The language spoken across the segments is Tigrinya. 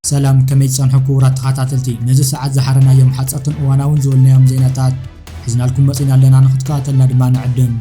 ሰላም ከመይ ትጸንሑ ክቡራት ተኸታተልቲ ነዚ ሰዓት ዝሓረናዮም ሓጸርትን እዋናውን ዝበልናዮም ዜናታት ሒዝናልኩም መጺና ኣለና ንክትከታተልና ድማ ንዕድም።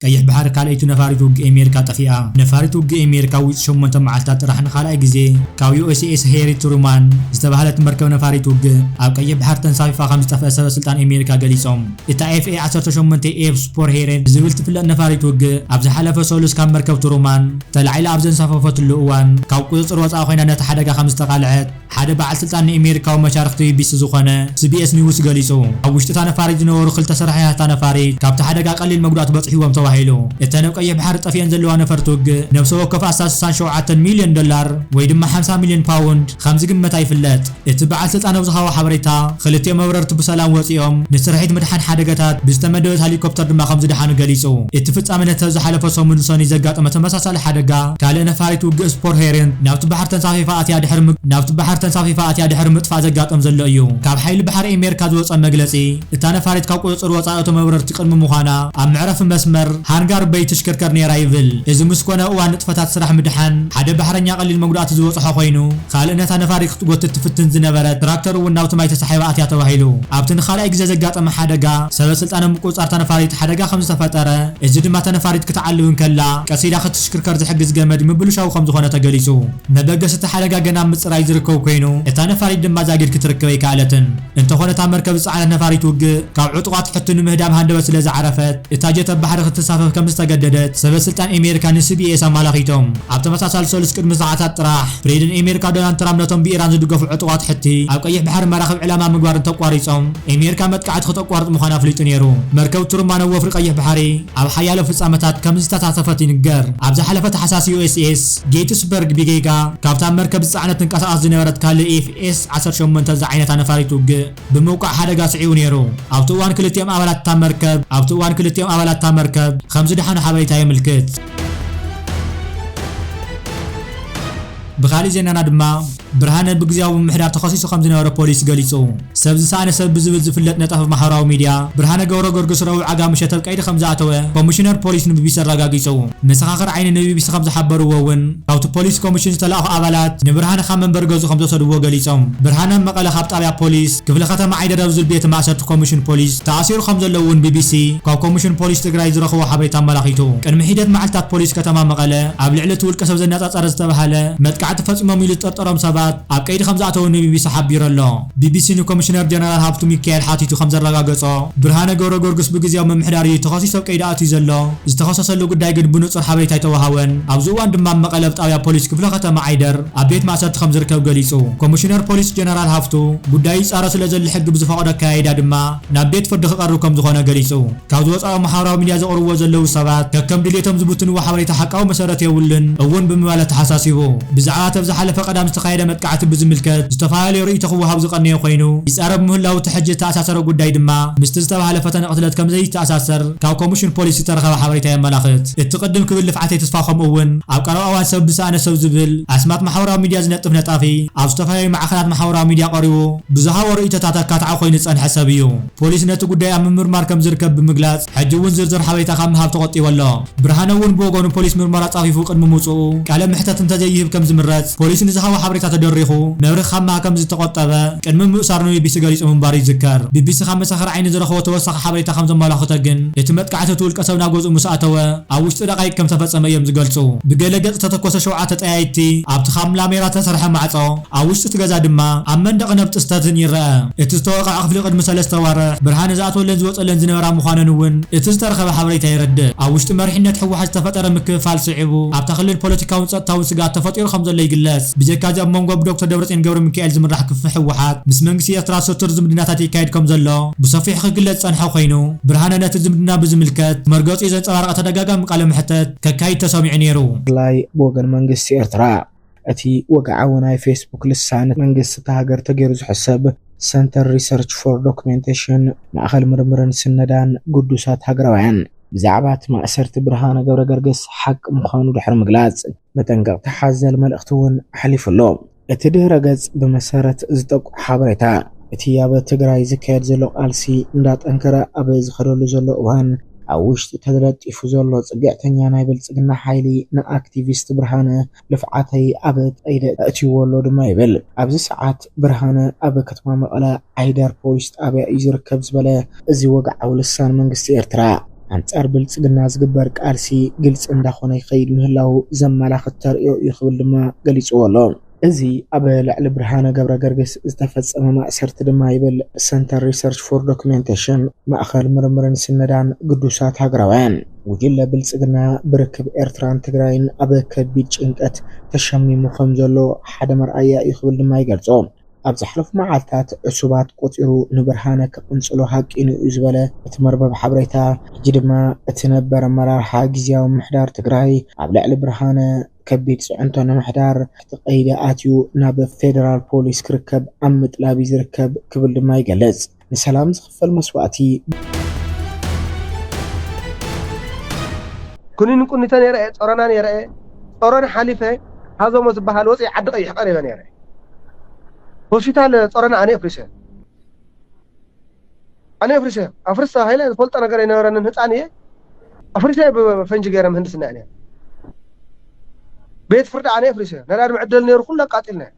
ቀይሕ ባሕሪ ካልኣይቲ ነፋሪት ውግእ ኣሜሪካ ጠፊኣ። ነፋሪት ውግእ ኣሜሪካ ውጽ ሸሞንተ መዓልታት ጥራሕ ንኻልኣይ ግዜ ካብ ዩኤስኤስ ሄሪ ትሩማን ዝተባህለት መርከብ ነፋሪት ውግእ ኣብ ቀይሕ ባሕሪ ተንሳፊፋ ከምዝጠፍኣ ሰበ ስልጣን ኣሜሪካ ገሊጾም። እታ ኤፍኤ ዓሰርተ ሸሞንተ ኤፍ ስፖርሄሬ ብዝብል ትፍለጥ ነፋሪት ውግእ ኣብ ዝሓለፈ ሰሉስ ካብ መርከብ ትሩማን ተላዒላ ኣብ ዘንሳፈፈትሉ እዋን ካብ ቁጽጽር ወጻኢ ኮይና ነቲ ሓደጋ ከምዝተቓልዐት ሓደ በዓል ስልጣን ንኢሜሪካዊ መሻርኽቲ ቢቢሲ ዝኾነ ስቢኤስ ኒውስ ገሊጹ። ኣብ ውሽጢ እታ ነፋሪት ዝነበሩ ክልተ ሰራሒታት እታ ነፋሪት ካብቲ ሓደጋ ቀሊል መጉዳእቲ በጺሕዎም ተባሂሉ። እተን ኣብ ቀይሕ ባሕሪ ጠፊኤን ዘለዋ ነፈርቲ ውግእ ነብሰ ወከፍ ኣስታት ስሳን ሸውዓተን ሚልዮን ዶላር ወይ ድማ ሓምሳ ሚልዮን ፓውንድ ከም ዝግመታ ይፍለጥ። እቲ በዓል ስልጣን ኣብ ዝሃቦ ሓበሬታ ክልቲኦም መብረርቲ ብሰላም ወጺኦም ንስርሒት ምድሓን ሓደጋታት ብዝተመደበት ሀሊኮፕተር ድማ ከም ዝደሓኑ ገሊጹ። እቲ ፍጻመ ነቲ ኣብ ዝሓለፈ ሰሙን ሰኑይ ዘጋጠመ ተመሳሳሊ ቀጻሊ ሓደጋ፣ ካልእ ነፋሪት ውግእ ስፖር ሄሪንት ናብቲ ባሕሪ ተንሳፊፋ ኣትያ ድሕሪ ናብቲ ባሕሪ ተንሳፊፋ ኣትያ ድሕሪ ምጥፋእ ዘጋጠም ዘሎ እዩ። ካብ ሓይሊ ባሕሪ ኤሜርካ ዝወጸ መግለጺ፣ እታ ነፋሪት ካብ ቁጽጽር ወጻኢ እቶ መብረርቲ ቅድሚ ምዃና ኣብ መዕረፊ መስመር ሃንጋር በይ ትሽክርከር ነይራ ይብል። እዚ ምስ ኮነ እዋን ንጥፈታት ስራሕ ምድሓን ሓደ ባሕረኛ ቀሊል መጉዳእቲ ዝበጽሖ ኮይኑ፣ ካልእ ነታ ነፋሪት ክትጎትት ትፍትን ዝነበረት ትራክተር እውን ናብቲ ማይ ተሳሒባ ኣትያ ተባሂሉ። ኣብቲ ንኻልኣይ ግዜ ዘጋጠመ ሓደጋ፣ ሰበ ስልጣን ኣብ ምቁጽጻር እታ ነፋሪት ሓደጋ ከምዝተፈጠረ፣ እዚ ድማ እታ ነፋሪት ክትዓልብ እንከላ ቀስ ኢላ ክትሽክርከር ዝሕግዝ ገመድ ምብልሻዉ ከምዝኾነ ተገሊፁ። መበገሲ እቲ ሓደጋ ገና ኣብ ምፅራይ ዝርከብ ኮይኑ እታ ነፋሪት ድማ ዛጊድ ክትርክብ ኣይከኣለትን። እንተኾነ እታ መርከብ ዝፀዓነት ነፋሪት ውግእ ካብ ዕጡቓት ሕቶ ንምህዳም ሃንደበት ስለዝዓረፈት እታ ጀት ኣብ ባሕሪ ክትንሳፈፍ ከምዝተገደደት ሰበስልጣን ኤሜሪካ ንሲቢኤስ ኣማላኺቶም። ኣብ ተመሳሳሊ ሰሉስ ቅድሚ ሰዓታት ጥራሕ ፕሬዚደንት ኤሜሪካ ዶናልድ ትራምፕ ነቶም ብኢራን ዝድገፉ ዕጡቓት ሕቲ ኣብ ቀይሕ ባሕሪ መራኽብ ዕላማ ምግባር እንተቋሪፆም ኤሜርካ መጥቃዕቲ ክተቋርጽ ምዃና ኣፍሊጡ ነይሩ። መርከብ ቱሩማን ኣብ ወፍሪ ቀይሕ ባሕሪ ኣብ ሓያሎ ፍጻመታት ከም ዝተሳተፈት ይንገር። ኣብ ዝሓለፈ ታሕሳስ ዩኤስኤስ ጌትስበርግ ብጌጋ ካብታ ኣብ መርከብ ዝጸዓነት ትንቀሳቐስ ዝነበረት ካልእ ኤፍኤስ ዓሰርተ ሸሞንተ ዝዓይነታ ነፋሪት ውግእ ብምውቃዕ ሓደጋ ስዒቡ ነይሩ። ኣብቲ እዋን ክልቲኦም ኣባላት እታ መርከብ ኣብቲ እዋን ክልቲኦም ኣባላት እታ መርከብ ከም ዝደሓኑ ሓበሬታ የምልክት። ብኻልእ ዜናና ድማ፣ ብርሃነ ብግዝያዊ ምምሕዳር ተኸሲሱ ከምዝነበረ ፖሊስ ገሊጹ። ሰብ ዝሰኣነ ሰብ ብዝብል ዝፍለጥ ነጣፊ ማሕበራዊ ሚድያ ብርሃነ ገብረገርግስ ረቡዕ ዓጋምሸት ኣብ ቀይዲ ከምዝኣተወ ኮሚሽነር ፖሊስ ንቢቢሲ ኣረጋጊጹ። መሰኻኽር ዓይኒ ንቢቢሲ ከምዝሓበርዎ እውን ካብቲ ፖሊስ ኮሚሽን ዝተላእኹ ኣባላት ንብርሃነ ካብ መንበሪ ገዝኡ ከምዝወሰድዎ ገሊጾም። ብርሃነ ኣብ መቐለ ካብ ጣብያ ፖሊስ ክፍለ ከተማ ዓይደር ኣብ ዝብል ቤት ማእሰርቲ ኮሚሽን ፖሊስ ተኣሲሩ ከምዘሎ እውን ቢቢሲ ካብ ኮሚሽን ፖሊስ ትግራይ ዝረኸቦ ሓበሬታ ኣመላኺቱ። ቅድሚ ሒደት መዓልትታት ፖሊስ ከተማ መቐለ ኣብ ልዕሊ እቲ ውልቀሰብ ዘነጣጠረ ዝተነጸረ ዝተባህለ መጥቃዕቲ ፈጺሞም ኢሉ ዝጥርጠሮም ሰባት ኣብ ቀይዲ ከምዝኣተዉ ንቢቢሲ ሓቢሩ ኣሎ። ቢቢሲ ንኮሚሽነር ጀነራል ሃብቱ ሚካኤል ሓቲቱ ከምዘረጋገጾ፣ ብርሃነ ገብረገርጉስ ብግዝያዊ ምምሕዳር እዩ ተኸሲሱ ኣብ ቀይዲ ኣትዩ ዘሎ። ዝተኸሰሰሉ ጉዳይ ግን ብንጹር ሓበሬታ ኣይተወሃቦን። ኣብዚ እዋን ድማ ኣብ መቐለ ኣብ ጣብያ ፖሊስ ክፍለ ከተማ ዓይደር ኣብ ቤት ማእሰርቲ ከምዝርከብ ገሊጹ። ኮሚሽነር ፖሊስ ጀነራል ሃፍቱ፣ ጉዳዩ ይጻረ ስለዘሎ ሕጊ ብዝፈቕዶ ኣከያይዳ ድማ ናብ ቤት ፍርዲ ክቐርብ ከምዝኾነ ገሊጹ። ካብ ዝወጻኦ ማሕበራዊ ሚድያ ዘቕርብዎ ዘለዉ ሰባት ከከም ድልየቶም ዝብትንዎ ሓበሬታ ሓቃዊ መሰረት የብሉን እውን ብምባል ኣተሓሳሲቡ። ብዛዕባ እቲ ኣብ ዝሓለፈ ቀዳም ዝተኻየደ መጥቃዕቲ ብዝምልከት ዝተፈላለየ ርእይቶ ክወሃብ ዝቐነየ ኮይኑ ይጻረብ ምህላዉ እቲ ሕጂ ዝተኣሳሰረ ጉዳይ ድማ ምስቲ ዝተባህለ ፈተነ ቅትለት ከምዘይተኣሳሰር ካብ ኮሚሽን ፖሊስ ዝተረኸበ ሓበሬታ የመላኽት። እቲ ቅድም ክብል ልፍዓተይ ተስፋ ከምኡ እውን ኣብ ቀረባ እዋን ሰብ ብሰኣነ ሰብ ዝብል ኣስማት ማሕበራዊ ሚድያ ዝነጥፍ ነጣፊ ኣብ ዝተፈላለዩ ማዕኸናት ማሕበራዊ ሚድያ ቀሪቡ ብዝሃቦ ርእይቶታት ኣካታዒ ኮይኑ ዝጸንሐ ሰብ እዩ። ፖሊስ ነቲ ጉዳይ ኣብ ምምርማር ከም ዝርከብ ብምግላጽ፣ ሕጂ እውን ዝርዝር ሓበሬታ ካብ ምሃብ ተቖጢቡ ኣሎ። ብርሃነ እውን ብወገኑ ፖሊስ ምርመራ ጻፊፉ ቅድሚ ምውጽኡ ቃለ ምሕተት እንተዘይህብ ከም ዝምረጽ ፖሊስ ንዝሃቦ ሓበሬታ ተደሪኹ መብርሂ ካብ ምሃብ ከም ዝተቖጠበ ቅድሚ ምእሳሩ ንቢቢሲ ገሊጹ ምንባሩ ይዝከር። ቢቢሲ ካብ መሰኻኽር ዓይኒ ዝረኸቦ ተወሳኺ ሓበሬታ ከም ዘመላኽቶ ግን እቲ መጥቃዕቲ እቲ ውልቀሰብ ናብ ገዝኡ ምስ ኣተወ ኣብ ውሽጢ ደቓይቅ ከም ዝተፈጸመ እዮም ዝገልጹ። ብገለ ገጽ ዝተተኮሰ ሸውዓተ ጠያይትቲ ኣብቲ ካብ ላሜራ ዝተሰርሐ ማዕጾ፣ ኣብ ውሽጢ እቲ ገዛ ድማ ኣብ መንደቕ ነፍጢ ዝተትህን ይረኣ። እቲ ዝተወቕዐ ክፍሊ ቅድሚ ሰለስተ ኣዋርሕ ብርሃን ዝኣትወለን ዝወጸለን ዝነበራ ምዃነን እውን እቲ ዝተረኸበ ሓበሬታ የረድእ። ኣብ ውሽጢ መሪሕነት ህወሓት ዝተፈጠረ ምክፍፋል ስዒቡ ኣብታ ክልል ፖለቲካውን ጸጥታውን ስግኣት ተፈጢሩ ከምዘሎ ይግለጽ። ብጀካ'ዚ ኣብ መንጎ ብዶክተር ደብረጽዮን ገብረሚካኤል ዝምራሕ ክፍፍ ህወሓት ምስ መንግስቲ ኤርትራ ሰቱር ዝምድናታት ይካየድ ከምዘሎ ብሰፊሑ ክግለጽ ዝጸንሐ ኮይኑ፣ ብርሃነ ነቲ ዝምድና ብዝምልከት መርገጺኡ ዘንጸባረቐ ተደጋጋሚ ቃለ መሕተት ከካይድ ተሰሚዑ ነይሩ። ብፍላይ ብወገን መንግስቲ ኤርትራ እቲ ወግዓዊ ናይ ፌስቡክ ልሳን፣ መንግስቲ እታ ሃገር ተገይሩ ዝሕሰብ ሰንተር ሪሰርች ፎር ዶክሜንቴሽን፣ ማእኸል ምርምርን ስነዳን ግዱሳት ሃገራውያን፣ ብዛዕባ እቲ ማእሰርቲ ብርሃነ ገብረገርግስ ሓቂ ምዃኑ ድሕሪ ምግላፅ፣ መጠንቀቕታ ሓዘል መልእኽቲ እውን ኣሕሊፉ ኣሎ። እቲ ድህረ ገፅ ብመሰረት ዝጠቁ ሓበሬታ፣ እቲ ኣብ ትግራይ ዝካየድ ዘሎ ቃልሲ እንዳጠንከረ ኣብ ዝኸደሉ ዘሎ እዋን፣ ኣብ ውሽጢ ተለጢፉ ዘሎ ጽግዕተኛ ናይ ብልጽግና ሓይሊ ንኣክቲቪስት ብርሃነ ልፍዓተይ ኣብ ቀይዲ ኣእትዩዎ ኣሎ ድማ ይብል። ኣብዚ ሰዓት ብርሃነ ኣብ ከተማ መቐለ ዓይደር ፖሊስ ጣብያ እዩ ዝርከብ ዝበለ እዚ ወግዓዊ ልሳን መንግስቲ ኤርትራ፣ ኣንጻር ብልጽግና ዝግበር ቃልሲ ግልጺ እንዳኾነ ይኸይድ ምህላዉ ዘመላኽት ተርእዮ እዩ ክብል ድማ ገሊጹዎ ኣሎ። እዚ ኣብ ልዕሊ ብርሃነ ገብረገርግስ ዝተፈጸመ ማእሰርቲ ድማ ይብል ሰንተር ሪሰርች ፎር ዶክሜንቴሽን፣ ማእኸል ምርምርን ስነዳን ግዱሳት ሃገራውያን፣ ጉጅለ ብልጽግና ብርክብ ኤርትራን ትግራይን ኣብ ከቢድ ጭንቀት ተሸሚሙ ከም ዘሎ ሓደ መርኣያ እዩ ክብል ድማ ይገልጾ። ኣብ ዝሓለፉ መዓልታት ዕሱባት ቆጺሩ ንብርሃነ ክቕንጽሎ ሃቂኑ እዩ ዝበለ እቲ መርበብ ሓበሬታ፣ ሕጂ ድማ እቲ ነበር ኣመራርሓ ግዝያዊ ምምሕዳር ትግራይ ኣብ ልዕሊ ብርሃነ፣ ከቢድ ፅዕንቶ ንምሕዳር ትሕቲ ቀይዲ ኣትዩ ናብ ፌደራል ፖሊስ ክርከብ ኣብ ምጥላብ እዩ ዝርከብ ክብል ድማ ይገልፅ። ንሰላም ዝኽፈል መስዋእቲ! ኩኒን ቁኒተ ነይረ እየ ጾሮና ነይረ እየ ጾሮና ሓሊፈ ሃዞሞ ዝባሃል ወጺ ዓዲ ቀይሕ ቀሪበ ነይረ ሆስፒታል ጾሮና ኣነ እፍሪሰ። ኣነ ኣፍሪሰ ኣፍርስ ተባሂለ ዝፈልጦ ነገር ኣይነበረንን ህጻን እየ ኣፍሪሰ ብፈንጂ ገይረ ምህንድስና እየ ቤት ፍርዲ ኣነ ኣፍሪሰ ነዳድ መዕደሊ ነይሩ ኩሉ ኣቃጢልናዮ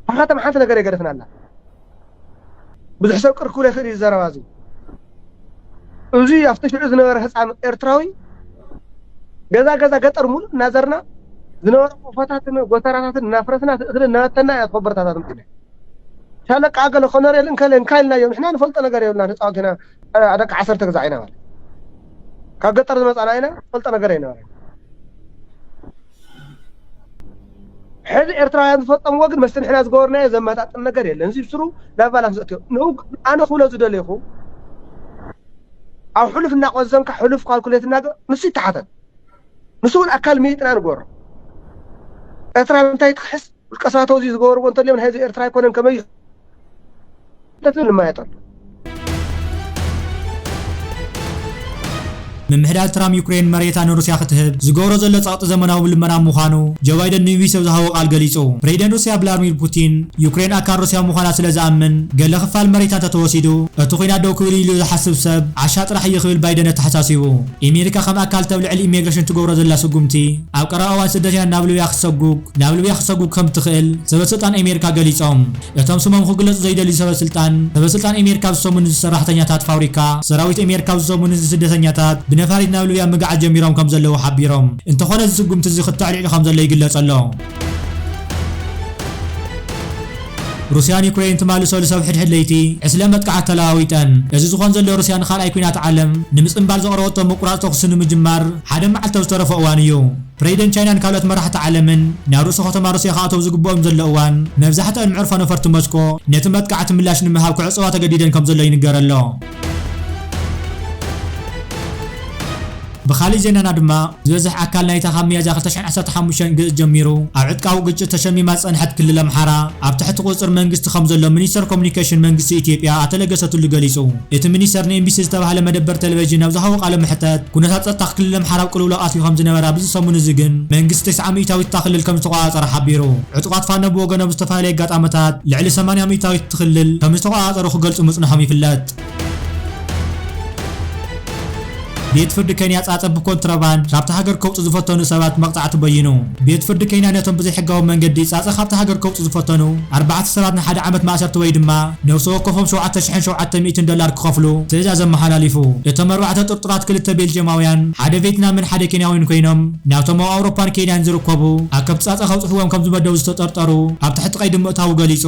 ብሓኻትም ሓንቲ ነገር የገደፍና ኣላ ብዙሕ ሰብ ቅር ክብሎ ይኽእል እዩ ዘረባ እዚ እዚ ኣብቲ ሽዑ ዝነበረ ህፃን ኤርትራዊ ገዛ ገዛ ገጠር ሙሉእ እናዘርና ዝነበረ ቆፎታትን ጎተራታትን እናፍረስና እቲ እኽሊ እናበተና ኢና ተኸበርታታት ምፅና ሻለቃ ኣከለ ኮነሬል እንከለ እንካ ኢልናዮ ንሕና ንፈልጦ ነገር የብልናን ህፃውንቲ ኢና እ፣ ደቂ ዓሰርተ ግዛዕ ኢና በለ ካብ ገጠር ዝመፃና ኢና ፈልጦ ነገር ኣይነበረን ሕዚ ኤርትራውያን ዝፈፀምዎ ግን መስቲ ንሕና ዝገበርናዮ ዘመጣጥን ነገር የለን እዚ ስሩ ናብ ባላንስ ዘእትዮ ንኡ- ኣነ ክብሎ ዝደለኹ ኣብ ሕሉፍ እናቆዘምካ ሕሉፍ ካልኩሌት እና ንሱ ይተሓተት ንሱ እውን ኣካል ምይጥና ንገሮ ኤርትራ እንታይ ትክሕስ ውልቀሳባት እዚ ዝገበርዎ እንተልዮም ናይ ህዝቢ ኤርትራ ኣይኮነን ከመይ እዩ ንማየጥ ኣሎ ምምሕዳር ትራም ዩክሬን መሬታ ንሩስያ ክትህብ ዝገብሮ ዘሎ ጸቕጢ ዘመናዊ ልመና ምዃኑ ጆ ባይደን ንቢቢሲ ኣብ ዝሃቦ ቃል ገሊጹ። ፕሬዚደንት ሩስያ ቭላድሚር ፑቲን ዩክሬን ኣካል ሩስያ ምዃና ስለ ዝኣምን ገለ ክፋል መሬታ እንተተወሲዱ እቲ ኲናት ደው ክብል እዩ ኢሉ ዝሓስብ ሰብ ዓሻ ጥራሕ እዩ ክብል ባይደን ኣተሓሳሲቡ። ኤሜሪካ ከም ኣካል እተብ ልዕሊ ኢሜግረሽን እትገብሮ ዘላ ስጉምቲ ኣብ ቀረባ እዋን ስደተኛታት ናብ ልብያ ክትሰጉግ ናብ ሊብያ ክትሰጉግ ከም እትኽእል ሰበስልጣን ኣሜሪካ ገሊጾም። እቶም ስሞም ክግለጹ ዘይደልዩ ሰበስልጣን፣ ሰበስልጣን ኣሜሪካ ኣብ ዝሰሙ ንዚ ሰራሕተኛታት ፋብሪካ ሰራዊት ኣሜሪካ ኣብ ዝሰሙ ንዚ ስደተኛታት ብነፋሪት ናብ ሊብያ ምግዓዝ ጀሚሮም ከም ዘለዉ ሓቢሮም። እንተኾነ እዚ ስጉምቲ እዚ ክተዕሊዕሉ ከም ዘሎ ይግለጽ ኣሎ። ሩስያን ዩክረይን ትማሊ ሰሉስ ኣብ ሕድሕድ ለይቲ ዕስለ መጥቃዕቲ ተለዋዊጠን። እዚ ዝኾን ዘሎ ሩስያ ንካልኣይ ኲናት ዓለም ንምጽንባል ዘቕረበቶ ምቁራጽ ተኹሲ ንምጅማር ሓደ መዓልቲ ኣብ ዝተረፎ እዋን እዩ። ፕረዚደንት ቻይናን ካልኦት መራሕቲ ዓለምን ናብ ርእሰ ኸተማ ሩስያ ክኣተዉ ዝግብኦም ዘሎ እዋን፣ መብዛሕትኣን መዕርፎ ነፈርቲ ሞስኮ ነቲ መጥቃዕቲ ምላሽ ንምሃብ ክዕጸዋ ተገዲደን ከም ዘሎ ይንገር ኣሎ። ብኻልእ ዜናና ድማ፣ ዝበዝሕ ኣካል ናይታ ካብ ሚያዝያ ክልተ ሽሕን ዓሰርተ ሓሙሽተን ግእዝ ጀሚሩ ኣብ ዕጥቃዊ ግጭት ተሸሚማ ዝጸንሐት ክልል ኣምሓራ፣ ኣብ ትሕቲ ቁጽጽር መንግስቲ ከም ዘሎ ሚኒስተር ኮሙዩኒኬሽን መንግስቲ ኢትዮጵያ ኣቶ ለገሰ ቱሉ ገሊጹ። እቲ ሚኒስተር ንኤንቢሲ ዝተባህለ መደበር ተለቬዥን ኣብ ዝሃቦ ቃለ መሕተት፣ ኩነታት ጸጥታ ክልል ኣምሓራ ኣብ ቅልውላው ኣትዩ ከም ዝነበረ ኣብዚ ሰሙን'ዚ ግን መንግስቲ ተስዓ ሚእታዊት እታ ክልል ከም ዝተቖጻጸረ ሓቢሩ። ዕጡቓት ፋኖ ብወገኖም ኣብ ዝተፈላለየ ኣጋጣመታት ልዕሊ ሰማንያ ሚእታዊት እቲ ክልል ከም ዝተቖጻጸሩ ክገልጹ ምጽንሖም ይፍለጥ። ቤት ፍርዲ ኬንያ ጻጸ ብኮንትሮባንድ ካብታ ሃገር ከውጽኡ ዝፈተኑ ሰባት መቕጻዕቲ በይኑ። ቤት ፍርዲ ኬንያ ነቶም ብዘይሕጋዊ መንገዲ ጻጸ ካብታ ሃገር ከውጽኡ ዝፈተኑ ኣርባዕተ ሰባት ንሓደ ዓመት ማእሰርቲ ወይ ድማ ነፍሲ ወከፎም ሸውዓተ ሽሕን ሸውዓተ ሚእትን ዶላር ክኸፍሉ ትእዛዝ ኣመሓላሊፉ። እቶም ኣርባዕተ ጥርጡራት ክልተ ቤልጅየማውያን፣ ሓደ ቬትናምን ሓደ ኬንያዊን ኮይኖም፣ ናብቶም ኣብ ኣውሮፓን ኬንያን ዝርከቡ ኣከብቲ ጻጸ ከብጽሕዎም ከም ዝመደቡ ዝተጠርጠሩ ኣብ ትሕቲ ቀይዲ ምእታዉ ገሊጹ።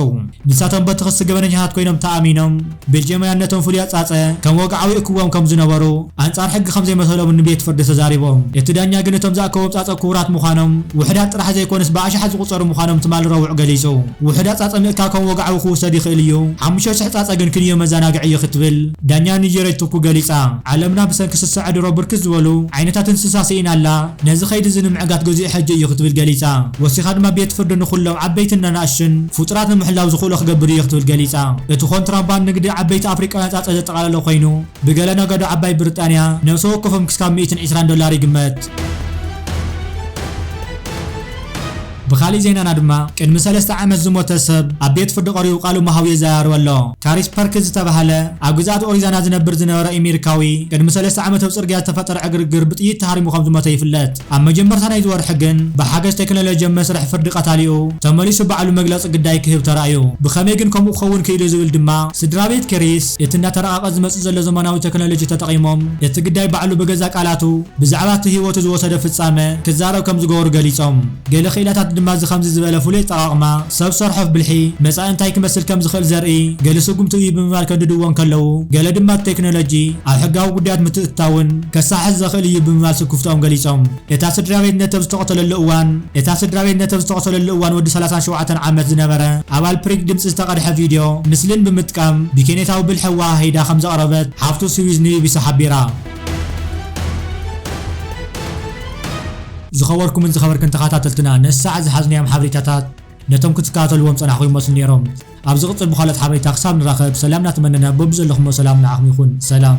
ንሳቶም በቲ ክሲ ገበነኛታት ኮይኖም ተኣሚኖም። ቤልጄማውያን ነቶም ፍሉያት ጻጸ ከም ወግዓዊ ይእክብዎም ከም ዝነበሩ፣ ኣንጻር ሕጊ ከም ዘይመሰሎምን ንቤት ፍርዲ ተዛሪቦም። እቲ ዳኛ ግን እቶም ዝኣከቦም ጻጸ ክቡራት ምዃኖም፣ ውሑዳት ጥራሕ ዘይኮነስ ብኣሽሓት ዝቑጸሩ ምዃኖም ትማሊ ረቡዕ ገሊጹ። ውሑዳት ጻጸ ምእካብ ከም ወግዓዊ ክውሰድ ይኽእል እዩ፣ ሓሙሽተ ሽሕ ጻጸ ግን ክንዮ መዘናግዒ እዩ ክትብል ዳኛ ኒጀረጅ ቱኩ ገሊጻ። ዓለምና ብሰንኪ ስሰዐ ድሮ ብርክት ዝበሉ ዓይነታት እንስሳ ስኢና ኣላ። ነዚ ከይዲ እዚ ንምዕጋት ገዚኡ ሕጂ እዩ ክትብል ገሊጻ። ወሲኻ ድማ ቤት ፍርዲ ንኹሎም ዓበይትን ነናእሽቱን ፍጡራት ንምሕላው ዝኽእሎ ክገብር እዩ ክትብል ገሊጻ። እቲ ኮንትራባንድ ንግዲ ዓበይቲ ኣፍሪቃውያን ጻጸ ዘጠቓለለ ኮይኑ፣ ብገለ ነጋዶ ዓባይ ብሪጣንያ ነብሰ ወከፎም ክስካብ ሚእትን ዒስራን ዶላር ይግመት። ብኻሊእ ዜናና ድማ ቅድሚ ሰለስተ ዓመት ዝሞተ ሰብ ኣብ ቤት ፍርዲ ቀሪቡ ቃሉ ምሃቡ የዘራርብ ኣሎ። ካሪስ ፐርክስ ዝተባህለ ኣብ ግዝኣት ኦሪዛና ዝነብር ዝነበረ ኢሚሪካዊ ቅድሚ ሰለስተ ዓመት ኣብ ጽርግያ ዝተፈጠረ ዕግርግር ብጥይት ተሃሪሙ ከም ዝሞተ ይፍለጥ። ኣብ መጀመርታ ናይዚ ወርሒ ግን ብሓገዝ ቴክኖሎጂ ኣብ መስርሕ ፍርዲ ቀታሊኡ ተመሊሱ ባዕሉ መግለጺ ግዳይ ክህብ ተራእዩ። ብኸመይ ግን ከምኡ ክኸውን ክኢሉ ዝብል ድማ ስድራቤት ክሪስ እቲ እንዳተራቐቐ ዝመጽእ ዘሎ ዘመናዊ ተክኖሎጂ ተጠቒሞም እቲ ግዳይ ባዕሉ ብገዛእ ቃላቱ ብዛዕባ እቲ ህይወቱ ዝወሰዶ ፍጻመ ክዛረብ ከም ዝገበሩ ገሊጾም፣ ገለ ክኢላታት ድማ እዚ ከምዚ ዝበለ ፍሉይ ኣጠቓቕማ ሰብ ሰርሖ ብልሒ መጻኢ እንታይ ክመስል ከም ዝኽእል ዘርኢ ገለ ስጕምቲ እዩ ብምባል ከንድድዎ እንከለዉ፣ ገለ ድማ እቲ ቴክኖሎጂ ኣብ ሕጋዊ ጕዳያት ምትእትታውን ከሳሕሕ ዘኽእል እዩ ብምባል ስክፍትኦም ገሊጾም። እታ ስድራቤት ነተብ ዝተቐተለሉ እዋን እታ ስድራቤት ነተብ ዝተቐተለሉ እዋን ወዲ ሰላሳን ሸውዓተን ዓመት ዝነበረ ኣባል ፕሪግ ድምጺ ዝተቐድሐ ቪድዮ ምስልን ብምጥቃም ብኬንየታዊ ብልሒ ኣወሃሂዳ ከም ዘቕረበት ሓፍቱ ስዊዝ ንቢቢሲ ሓቢራ። ዝኸበርኩምን ዝኸበርክን ተኻታተልትና ንእስሳዕ ዝሓዝናዮም ሓብሪታታት ነቶም ክትካታተልዎም ጸናሕኹም ይመስሉ ኔሮም ኣብ ዝቕጽል ብኻልኦት ሓብሬታ ክሳብ ንራኸብ ሰላም ናተመነና በብዘለኹሞ ሰላም ንዓኹም ይኹን ሰላም